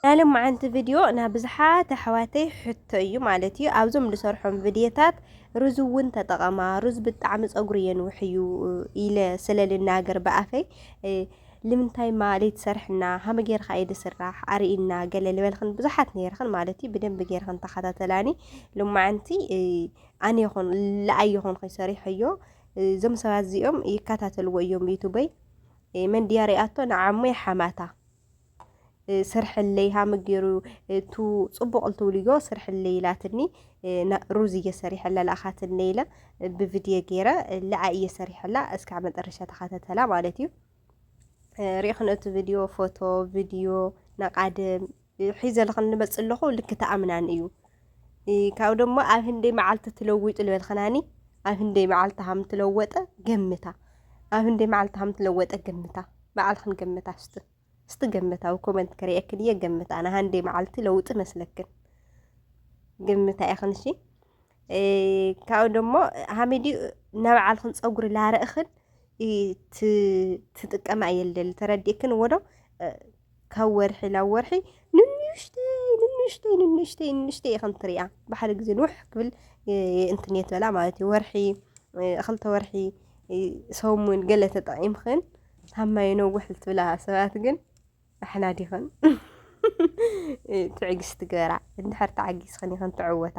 ናይ ሎማዓንቲ ቭድዮ ናይ ብዙሓት ኣሕዋተይ ሕቶ እዩ ማለት እዩ ኣብዞም ድሰርሖም ቭድየታት ሩዝ እውን ተጠቐማ ሩዝ ብጣዕሚ ፀጉሪ የንውሕ እዩ ኢለ ስለ ልናገር ብኣፈይ ልምንታይ ማለይ ትሰርሕና ሃመ ጌርካ እዩ ድስራሕ ኣርእና ገለ ልበልክን ብዙሓት ነይርክን ማለት እዩ ብደንብ ጌርክን ተኸታተላኒ ሎማዓንቲ ኣነ ይኹን ልኣይ ይኹን ከይሰሪሐዮ እዞም ሰባት እዚኦም ይከታተልዎ እዮም ዩቱበይ መን ድያ ሪኣቶ ንዓሞ ይሓማታ ስርሕለይ ሃመ ገይሩ ፅቡቕ ልትብልዮ ስርሕለይ ኢላትኒ ሩዝ እየ ሰሪሐላ ልኣኻትኒ ኢለ ብቪድዮ ገይረ ልኣ እየ ሰሪሐላ እስካዕ መጠረሻ ተኸታተላ ማለት እዩ ሪኢኽን እቲ ቪድዮ ፎቶ ቪድዮ ናቃድም ሒዘ ልኽን ልመፅ ኣለኹ ልክ ተኣምናን እዩ ካብኡ ደሞ ኣብ ህንደይ መዓልቲ ትለዊጡ ልበልኸናኒ ኣብ ህንደይ መዓልቲ ሃም ትለወጠ ገምታ ኣብ ህንደይ መዓልቲ ሃም ትለወጠ ገምታ መዓልኽን ገምታ ስት ስቲ ገምታ ኣብ ኮመንት ከሪአክን እየ ገምታ ኣና ሃንደይ መዓልቲ ለውጢ መስለክን ገምታ ኢኽን እሺ ካብኡ ደሞ ሃሚዲ ናብዓልኽን ፀጉሪ ላርእኽን ትጥቀማ እየ ልደሊ ተረዲእክን ወዶ ካብ ወርሒ ናብ ወርሒ ንንሽተይ ንንሽተይ ንንሽተይ ንንሽተይ ኢኸም ትሪኣ ብሓደ ግዜ ንውሕ ክብል እንትን የትበላ ማለት እዩ ወርሒ ክልተ ወርሒ ሰሙን ገለ ተጠቒምኽን ካብ ማይ ነውሕ ልትብላ ሰባት ግን ኣሕና ዲኽን ትዕግስቲ ግበራ እንድሕር ተዓጊስኽን ኢኸን ትዕወታ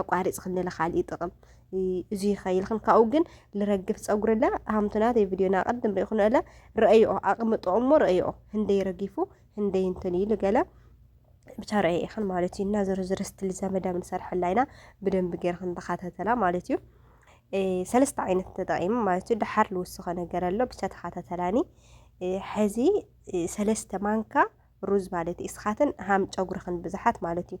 ኣቋሪጽክኒ ለካልኢ ጥቕም እዙይ ኸይልክን ካብኡ ግን ልረግፍ ፀጉሪ ለ ሃምቱ ናተይ ቪድዮና ቅድም ሪኢኹን ኣለ ረአይኦ ኣቕምጦ እሞ ረአይኦ ህንደይ ረጊፉ ህንደይ እንትን ኢሉ ገለ ብቻ ረአይ ኢኽን ማለት እዩ እና ዝርዝር ስትል ዘመዳ ምንሰርሐላ ኢና ብደንብ ገይርክን ተኸታተላ ማለት እዩ ሰለስተ ዓይነት ተጠቂሙ ማለት እዩ ደሓር ልውስኸ ነገር ኣሎ ብቻ ተኸታተላኒ ሕዚ ሰለስተ ማንካ ሩዝ ማለት እዩ እስኻትን ሃም ጨጉርኽን ብዙሓት ማለት እዩ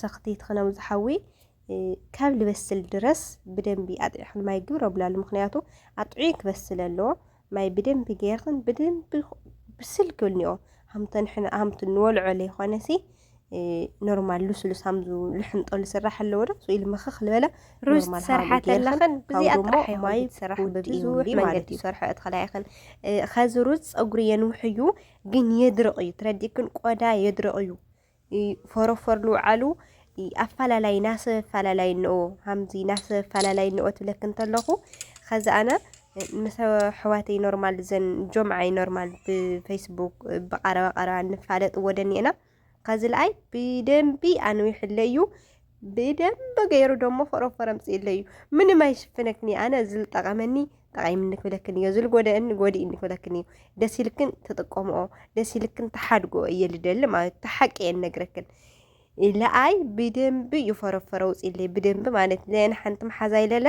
ሰክቲ ትኽነም ዝሓዊ ካብ ልበስል ድረስ ብደንቢ ኣጥዒኽን ማይ ግብር ኣብላሉ ምክንያቱ ኣጥዑይ ክበስል ኣለዎ ማይ ብደንቢ ገይርኽን ብደንቢ ብስል ክብልኒኦ ሃምተን ሃምቲ ንወልዖ ለይኮነሲ ኖርማል ሉስሉስ ሃምዙ ልሕንጠሉ ስራሕ ኣለዎ ዶ ኢሉ ምኽኽ ልበለ ሩዝ ትሰርሓ ተለኽን ብዚኣ ጥራሕ ማይ ትሰርሕ ብብዙሕ መንገዲ ይሰርሐ እትኸላይኽን ኸዚ ሩዝ ፀጉሪ የንውሕ እዩ ግን የድርቕ እዩ ትረዲእክን ቆዳ የድርቕ እዩ ፎሮፎር ንውዓሉ ኣፋላላይ ናሰብ ኣፋላላይ እንኦ ሃምዚ ናሰብ ኣፋላላይ እንኦ ትብለክ እንተለኹ ኸዚ ኣነ ምስ ኣሕዋተይ ኖርማል ዘን ጆምዓይ ኖርማል ብፌስቡክ ብቐረባ ቀረባ እንፋለጥ ወደኒኤና ኸዚ ልኣይ ብደንቢ ኣንዊሕለ እዩ ብደንብ ገይሩ ደሞ ፎሮፎር ኣምፅእለይ እዩ ምንም ኣይሽፍነክን እዩ ኣነ ዝልጠቐመኒ ጠቒምኒ ክብለክን እዮ ዝልጎደእኒ ጎዲእኒ ክብለክን እዩ ደስ ኢልክን ትጥቀምኦ ደስ ኢልክን ተሓድጎ እየ ልደሊ ማለት ተሓቂ እየ ነግረክን ለኣይ ብደንብ እዩ ፎሮፎር ኣውፅእለይ ብደንብ ማለት ለየን ሓንቲ መሓዛ ይለለ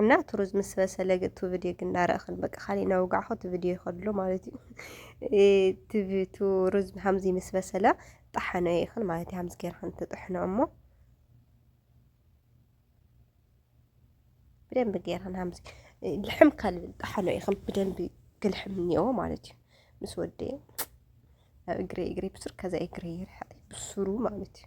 እና እቲ ሩዝ ምስ በሰለ እቲ ቪድዮ ግን እንዳረእኽን በቃ ካሊእ እናወጋዕኹ እቲ ቪድዮ ይኸድሎ ማለት እዩ ትቪቱ ሩዝ ሃምዚ ምስ በሰለ ጣሓነ ይኽን ማለት እዩ ሃምዚ ጌርኽን ትጥሕኖ እሞ ብደንብ ጌርኽን ሃምዚ ልሕም ካልብል ጣሓኖ ይኽን ብደንብ ግልሕም እኒኦ ማለት እዩ ምስ ወደ ኣብ እግሪ እግሪ ብሱር ከዛ እግሪ ይርሕቕ ብሱሩ ማለት እዩ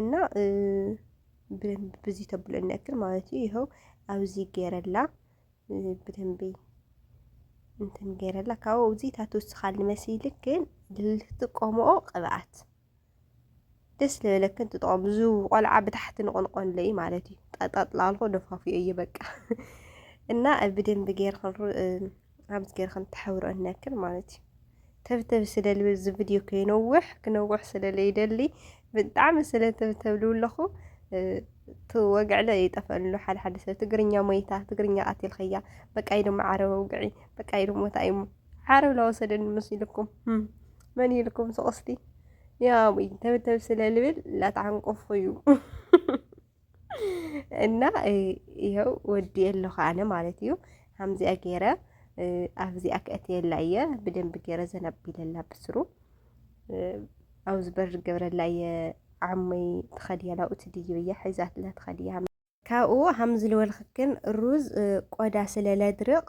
እና ብደንብ ብዚ ተብለኒ ያክል ማለት እዩ ይኸው ኣብዚ ገይረላ ብደንብ እንትን ገይረላ ካብኡ እዚ ታትወስኻል ንመሲልክ ግን ልትጥቀምኦ ቅብኣት ደስ ልበለክን ትጠቐሙ ዙ ቆልዓ ብታሕቲ ንቆንቆንለ እዩ ማለት እዩ ጠጠጥላልኮ ደፋፍዮ እዩ በቃ እና ብደንብ ገይርክን ኣብዚ ጌርክን ተሕብረነክን ማለት እዩ ተብተብ ስለልብ እዚ ቪድዮ ከይነውሕ ክነውሕ ስለለይደሊ ብጣዕሚ ስለ ተብተብሉ ኣለኹ ትወግዕለ ይጠፈሉ ሓደ ሓደ ሰብ ትግርኛ ሞይታ ትግርኛ ቀቲልኸያ በቃ ኢሉ ዓረብ ውግዒ በቃ ኢሉ ሞታ እዩ ዓረብ ላወሰደኒ ምስ ኢልኩም መን ኢልኩም ስቕስቲ ያ ተብተብ ስለልብል ላተዓንቆፉ እዩ እና ይኸው ወዲ የለኹ ኣነ ማለት እዩ ሃምዚኣ ገይረ ኣብዚኣ ከእትየላ እየ ብደንቢ ገይረ ዘናቢለላ ብስሩ ኣብ ዝበር ገብረላ እየ ዓመይ ትኸድያ ናብኡ ትድይብ እያ ሒዛትላ ትኸድያ ካብኡ ሃምዚ ልበልክክን ሩዝ ቆዳ ስለ ለድርቕ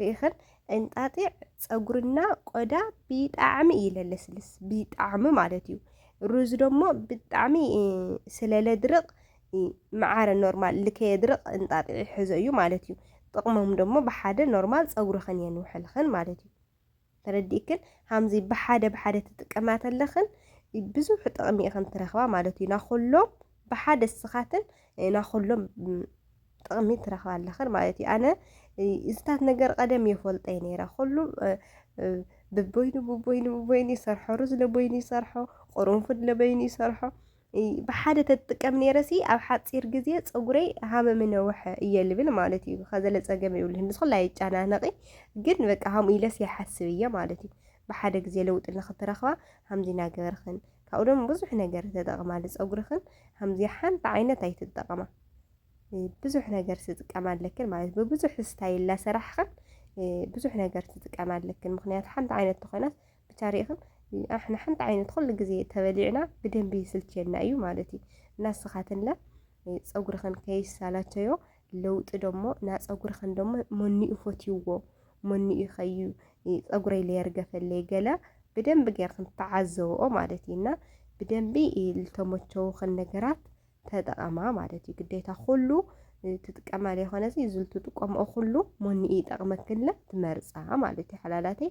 ሪኢኽን እንጣጢዕ ፀጉርና ቆዳ ብጣዕሚ እዩ ለለስልስ ብጣዕሚ ማለት እዩ ሩዝ ደሞ ብጣዕሚ ስለለድርቕ መዓረ ኖርማል ልከየድርቕ እንጣጢዕ ይሕዞ እዩ ማለት እዩ ጥቕሞም ደሞ ብሓደ ኖርማል ፀጉርኽን የንውሕልኽን ማለት እዩ ተረዲእክን ሃምዚ ብሓደ ብሓደ ትጥቀማ ተለኽን ብዙሕ ጥቕሚ ኢኽን ትረኽባ ማለት እዩ ናኹሎም ብሓደ ስኻትን ናኹሎም ጥቕሚ ትረኽባ ኣለኽን ማለት እዩ ኣነ እዝታት ነገር ቀደም የፈልጠይ ነይረ ኩሉ ብቦይኑ ብቦይኑ ብቦይኑ ይሰርሖ ሩዝ ለቦይኑ ይሰርሖ ቁርንፉድ ለበይኑ ይሰርሖ ብሓደ ተትጥቀም ነይረሲ ኣብ ሓጺር ግዜ ፀጉረይ ሃመ ምነውሐ እየ ልብል ማለት እዩ ከዘለ ፀገም ይብልህን ንስኹላ ይጨናነቂ ግን በቃ ሃምኡ ኢለስ ይሓስብ እየ ማለት እዩ ብሓደ ግዜ ለውጢ ንክትረኽባ ሃምዚ ናገበርኽን ካብኡ ደሞ ብዙሕ ነገር ተጠቕማ ፀጉርኽን ሃምዚ ሓንቲ ዓይነት ኣይትጠቐማ ብዙሕ ነገር ትጥቀማ ኣለክን ማለት ብብዙሕ ስታይል ላሰራሕኽን ብዙሕ ነገር ትጥቀማ ኣለክን ምክንያቱ ሓንቲ ዓይነት ተኾይናስ ብቻ ርኢኽን ኣሕና ሓንቲ ዓይነት ኩሉ ግዜ ተበሊዕና ብደንቢ ይስልቸና እዩ ማለት እዩ እና ስኻትንለ ፀጉርኽን ከይሳላቸዮ ለውጢ ደሞ ና ፀጉርኽን ደሞ መኒኡ ፈትይዎ መኒኡ ኸዩ ፀጉረይ ለየርገፈለይ ገለ ብደንቢ ጌርክን ተዓዘብኦ ማለት እዩ እና ብደንቢ ልተመቸውኽን ነገራት ተጠቐማ ማለት እዩ ግዴታ ኩሉ ትጥቀማ ለይኮነሲ ዝልትጥቀምኦ ኩሉ መኒኡ ይጠቕመክንለ ትመርፃ ማለት እዩ ሓላላተይ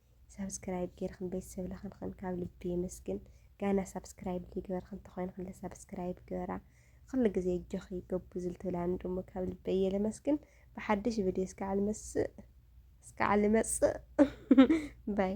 ሳብስክራይብ ጌርክን ቤተሰብ ለኽንክን ካብ ልቢ የመስግን። ጋና ሳብስክራይብ ዘይግበርክን ተኾይንክን ለሳብስክራይብ ግበራ። ኩሉ ግዜ እጆኺ ገቡዝ ልትብላኒ ደሞ ካብ ልበይ እየ ለመስግን። ብሓድሽ ቪድዮ እስካዕ ልመስእ እስካዕ ልመጽእ ባይ